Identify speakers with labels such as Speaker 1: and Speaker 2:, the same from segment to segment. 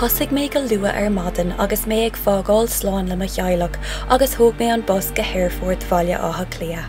Speaker 1: Thosaigh mé go luath ar maidin agus mé ag fágáil slán le mo theaghlach agus thóg mé an bus go hAerfort Bhaile Átha Cliath.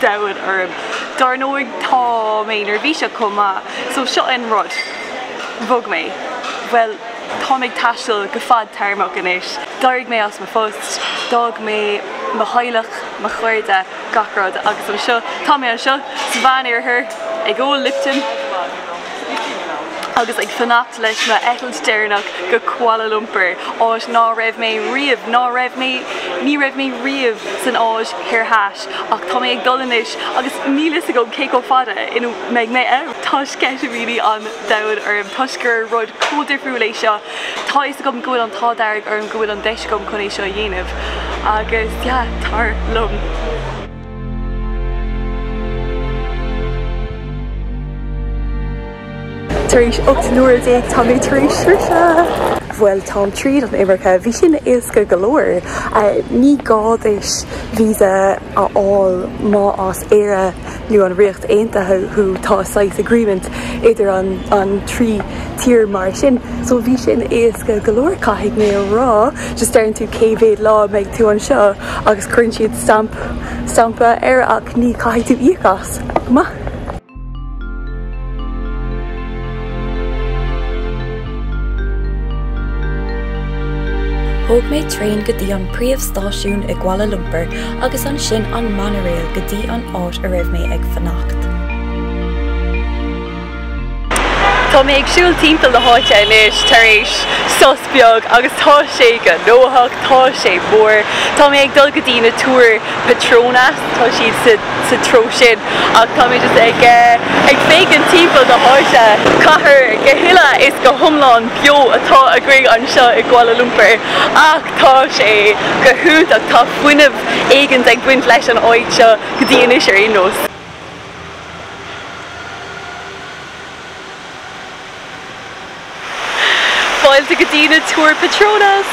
Speaker 2: domhain orm. Dár ndóigh tá mé neirbhíseach chomh maith, so seo an rud, bhog mé, bhuel táim ag taisteal go fadtéarmach anois, d'éirigh mé as mo phost, d'fhág mé mo theaghlach, mo chairde, gach rud agus anseo, tá mé anseo sa Mheán Oirthear ag ól Lipton agus ag fanacht leis m'eitilt deireanach go Kuala Lumpur, áit ná raibh mé riamh, ná raibh mé, ní raibh mé riamh san Áis Thoir Theas. Ach tá mé ag dul anois agus níl fhios agam cé chomh fada in a mbeidh mé ann. Tá sceitimíní an domhain orm toisc gur rud chomh difriúil é seo. Tá fhios agam go bhfuil an t-ádh dearg orm go bhfuil an deis agam chun é seo a dhéanamh. Agus yeah, tar liom.
Speaker 3: Tar éis ocht n-uaire déag táimid tar éis sroicheadh. Bhuel, táim tríd an imirce. Bhí sin éasca go leor. Ní gá duit víosa a fháil má as Éire nó an Ríocht Aontaithe thú. Tá saghas agreement idir an trí tír mar sin. So bhí sin éasca go leor. Caithfidh mé a rá just deireann tú cé mhéad lá a mbeidh tú anseo agus cuireann siad stamp stampa air ach ní caithfidh tú íoc as. Maith.
Speaker 1: Thóg mé traein go dtí an príomhstáisiún i gKuala Lumpur agus ansin an monorail go dtí an áit a raibh mé ag fanacht.
Speaker 2: Tá mé ag siúl timpeall na háite anois tar éis sos beag agus tá sé gnóthach, tá sé mór. Tá mé ag dul go dtí na túir Petronas, tá siad sa sa treo sin ach tá mé just ag ag féachaint timpeall na háite. Cathair go huile is go hiomlán beo atá againn anseo i gKuala Lumpur ach tá sé go hiontach, tá fuinneamh éigint ag baint leis an áit seo go dtí anois ar aon nós. Fáilte go dtí na Túir Petronas!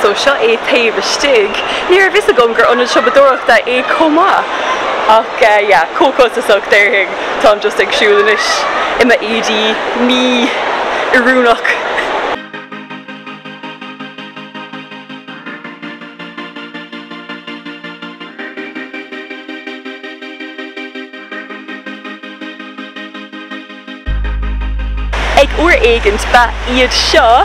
Speaker 2: So seo é taobh istigh. Ní raibh fhios agam gur ionad siopadóireachta é chomh maith! Ach yeah, chomh costasach déarfainn. Táim just ag siúl anois i mo éadaí mí-oiriúnach. Ag uair éigint ba iad seo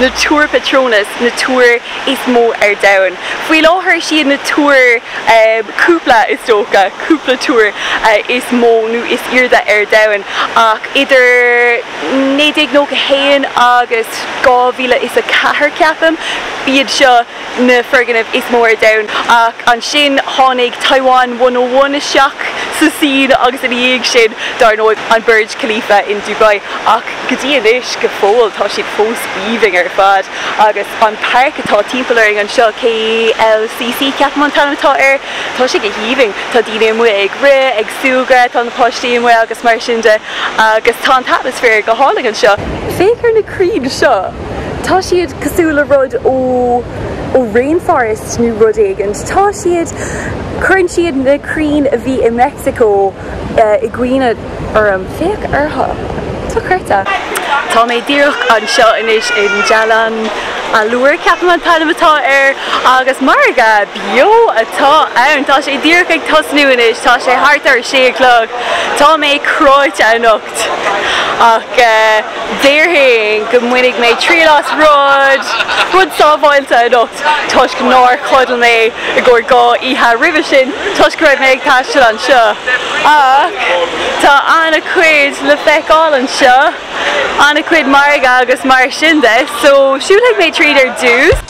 Speaker 2: na Túir Petronas, na túir is mó ar domhan. Faoi láthair siad na túir, cúpla is dócha, cúpla túir is mó nó is airde ar domhan ach idir 1991 agus 2004 ceapaim, ba iad seo, na foirgnimh is mó ar domhan. Ach ansin tháinig Taiwan One O One isteach sa scene agus ina dhiaidh sin dar ndóigh an Burj Khalifa in Dubai. Ach go dtí anois go fóill tá siad fós haoibhinn ar fad. Agus an pháirc atá timpeall orainn anseo, KLCC ceapaim an t-ainm atá air, tá sé go haoibhinn. Tá daoine amuigh ag rith, ag súgradh, tá na páistí amuigh agus mar sin de. Agus tá an t-atmaisféar go hálainn anseo. Féach ar na crainn seo! Tá siad cosúil le rud ó ó rainforest nó rud éigint. Tá siad, cuireann siad na crainn a bhí i Meicsiceo i gcuimhne orm. Féach orthu. Tá creata. Tá mé díreach anseo anois in Jalan Alor, ceapaim an t-ainm atá air, agus margadh beo atá ann. Tá sé díreach ag tosnú anois, tá sé thart ar a sé a chlog. Tá mé cráite anocht. ach déarfainn go mbainfidh mé triail as rud, rud sábháilte anocht toisc nár chodail mé i gcomhair dhá oíche roimhe sin toisc go raibh mé ag taisteal anseo. Ach tá an-chuid le feiceáil anseo, an-chuid margadh agus mar sin de, so siúlfaidh mé tríd ar dtús.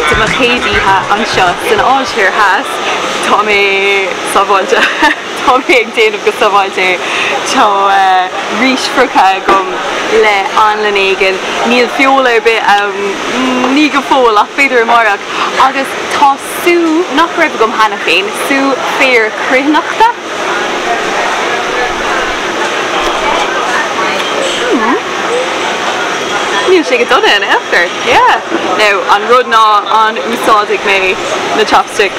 Speaker 2: De mo chéad oíche anseo san Áise Thoir Theas, tá mé sábháilte. Tá mé ag déanamh go sábháilte é. Tá rís fhriochta agam le anlann éigin. Níl feoil ar bith ann, ní go fóill, ach b'fhéidir amáireach. Agus tá sú, nach raibh agam cheana féin, sú féir cruithneachta. Mmm. Níl sé go dona in aon chor. Yeah. Now, an rud ná, an úsáidfidh mé na chopsticks?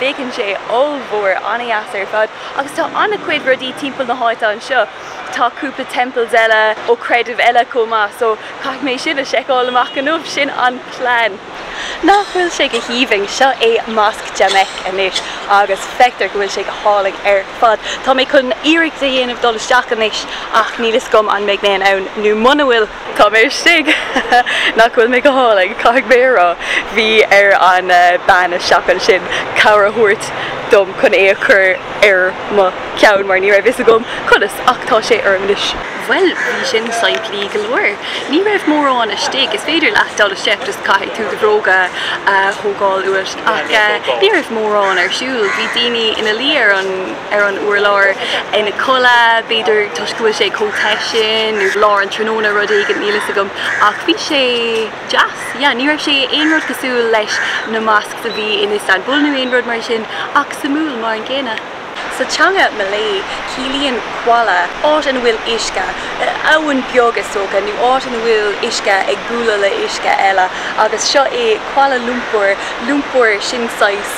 Speaker 2: Féachann sé ollmhór, an-deas ar fad agus tá an-chuid rudaí timpeall na háite anseo. Tá cúpla temples eile ó creidimh eile chomh maith so caithfidh mé sin a seiceáil amach inniu, sin an plean. Nach bhfuil sé go haoibhinn? Seo é Mosque Jamek anois agus feictear go bhfuil sé go hálainn ar fad. Tá mé chun iarracht a dhéanamh dul isteach anois ach níl fhios agam an mbeidh mé in ann nó muna bhfuil. Tá mé istigh! Nach bhfuil mé go hálainn, caithfidh mé a rá. Bhí ar an bean istigh ansin cabhair a thabhairt dom chun é a chur ar mo cheann mar ní raibh fhios agam conas ach tá sé orm anois. Bhuel, bhí sin simplí go leor. Ní raibh mórán istigh. Is féidir leat dul isteach, just caithfidh tú do bhróga a thógáil uait ach ní raibh mórán ar siúl. Bhí daoine ina luí ar an. ar an urlár ina codladh, b'fhéidir toisc go bhfuil sé chomh te sin, nó lár an tráthnóna, rud éigint, níl fhios agam, ach bhí sé deas, yeah. Ní raibh sé aon rud cosúil leis na mosques a bhí in Istanbul nó aon rud mar sin, ach suimiúil mar an gcéanna. Sa teanga Malay, ciallaíonn kuala áit ina bhfuil uisce, abhainn beag is dócha, nó áit ina bhfuil uisce ag bualadh le uisce eile, agus seo é Kuala Lumpur, Lumpur, sin saghas,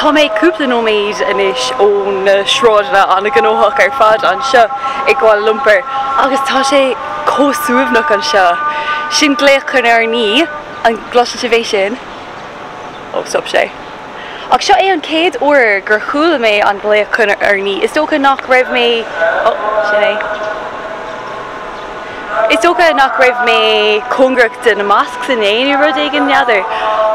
Speaker 2: Tá mé cúpla nóiméad anois ó na sráideanna an-ghnóthach ar fad anseo i Kuala Lumpur agus tá sé chomh suaimhneach anseo. Sin glaoch chun urnaí, an gcloiseann sibh é sin? Ó, stop sé. Ach seo é an chéad uair gur chuala mé an glaoch chun urnaí. Is dócha nach raibh mé, oh, sin é. Is dócha nach raibh mé cóngarach do na mosques inné nó rud éigin, n'fheadar.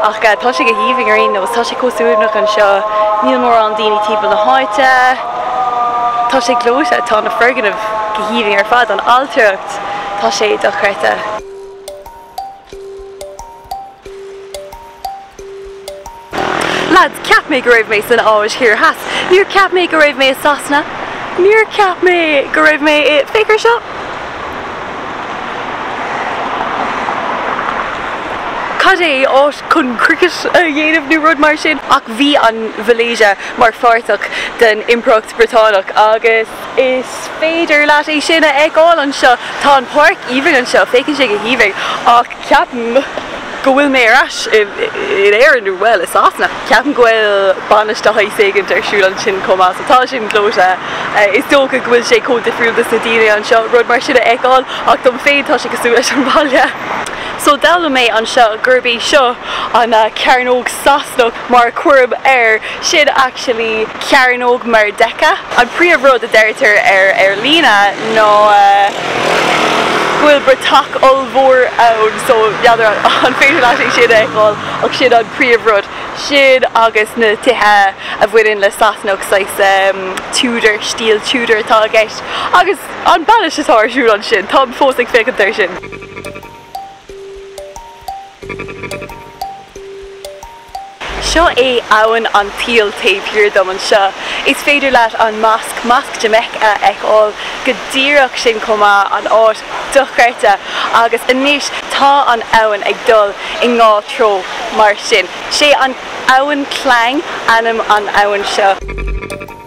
Speaker 2: Ach tá sé go haoibhinn ar aon nós. Tá sé chomh suaimhneach anseo. Níl mórán daoine timpeall na háite. Tá sé gleoite. Tá na foirgnimh go haoibhinn ar fad. An ailtireacht, tá sé dochreidte. Lads, cheap mé go raibh mé san Áis Thoir Theas. Níor cheap mé go raibh mé i Sasana. Níor cheap mé go raibh mé i. Féach air seo! Cad é áit chun cricket a dhéanamh nó rud mar sin? Ach bhí an Mhalaeisia mar pháirt den Impireacht Bhriotánach agus. Is féidir leat é sin a fheiceáil anseo. Tá an páirc aoibhinn anseo, féachann sé go haoibhinn, ach ceapaim go bhfuil mé ar ais in Éirinn, nó bhuel, i Sasana. Ceapaim go bhfuil bainis de shaghas éigint ar siúl ansin chomh maith, so tá sin gleoite. Is dócha go bhfuil sé chomh difriúil dos na daoine anseo rud mar sin a fheiceáil, ach dom féin tá sé cosúil leis an bhaile. So d'fhoghlaim mé anseo gurb í seo an cearnóg Sasanach. mar a chuirim air sin actually Cearnóg Merdeka. An príomh rud a deirtear ar líne ná go bhfuil bratach ollmhór ann so n'fheadar an féidir leat é sin a fheiceáil ach sin an príomh rud. Sin agus na tithe a bhaineann le Sasanach saghas Tudor, stíl Tudor atá i gceist agus an bainis atá ar siúl ansin, táim fós ag féachaint air sin. Seo é Abhainn an tSaoil taobh thiar dom anseo. Is féidir leat an mosc, Masjid Jamek, a fheiceáil go díreach ansin chomh maith, áit dochreidte. Agus anois tá an abhainn ag dul i ndhá treo mar sin. Sé an abhainn Klang ainm an abhainn seo.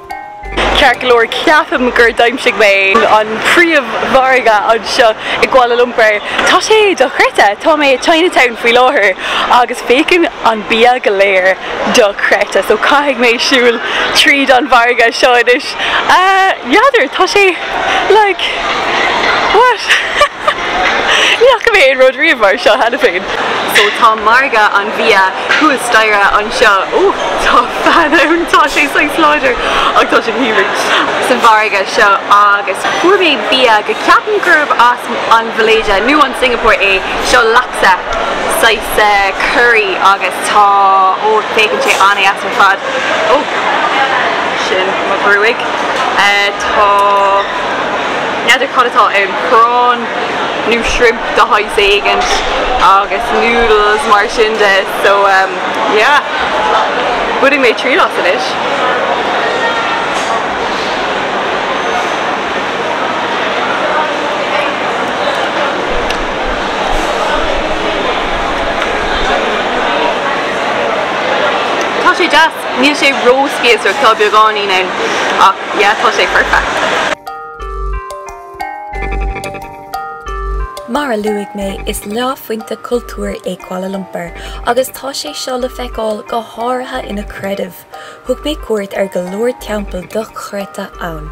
Speaker 2: Ceart go leor, ceapaim gur dh'aimsigh mé an príomh-mhargadh anseo i gKuala Lumpur. Tá sé dochreidte! Tá mé i Chinatown faoi láthair agus féachann an bia go léir dochreidte, so caithfidh mé siúl tríd an mhargadh seo anois. N'fheadar, tá sé like what? Ní fhaca mé aon rud riamh mar seo cheana féin! So tá margadh an bhia thuas staighre anseo. Úh, tá fean ann, tá sé saghas láidir ach tá sé híomad! Sa mhargadh seo agus fuair mé bia go ceapaim gurb as an Mhalaeisia nó an Singeapór é. Seo laksa, saghas curry agus tá, oh féachann sé an-deas ar fad. Oh, sin mo ghruaig. Tá. N'fheadar cad atá ann, prawn nó shrimp de shaghas éigint agus noodles mar sin de so ehm yeah, bainfidh mé triail as anois. Níl sé ró-spíosrach, tá beagáinín ann, ach yeah,
Speaker 1: tá sé perfect. Mar a luaigh mé, is leáphointe cultúir é Kuala Lumpur agus tá sé seo le feiceáil go háirithe ina creideamh. Thug mé cuairt ar go leor teampall dochreidte ann.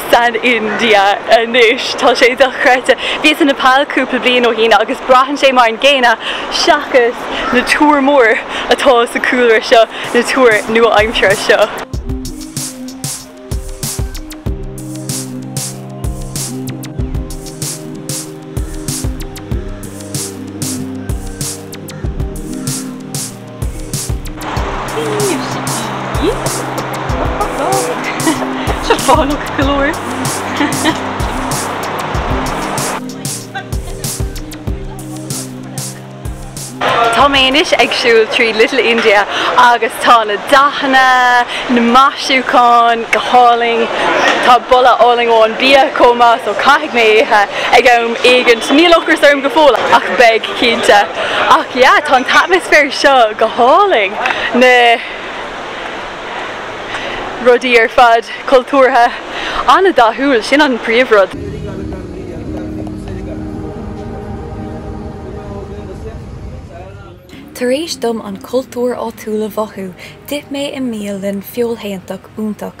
Speaker 2: san India anois. Tá sé dochreidte. Bhíos i Nepal cúpla bliain ó shin agus braitheann sé mar an gcéanna seachas na túir mór atá sa cúlra seo, na túir nua-aimseartha seo. Tá mé anois ag siúl tríd Little India agus tá na dathanna, na maisiúcháin go hálainn. Tá boladh álainn ón bia chomh maith so caithfidh mé ithe ag am éigint. Níl ocras orm go fóill ach beidh. Cinnte. Ach yeah, tá an t-atmaisféar seo go hálainn, na rudaí ar fad cultúrtha, an-dathúil, sin an príomhrud.
Speaker 1: Tar éis dom an cultúr áitiúil a mhothú, d'ith mé i mbialann feoilshéantach iontach.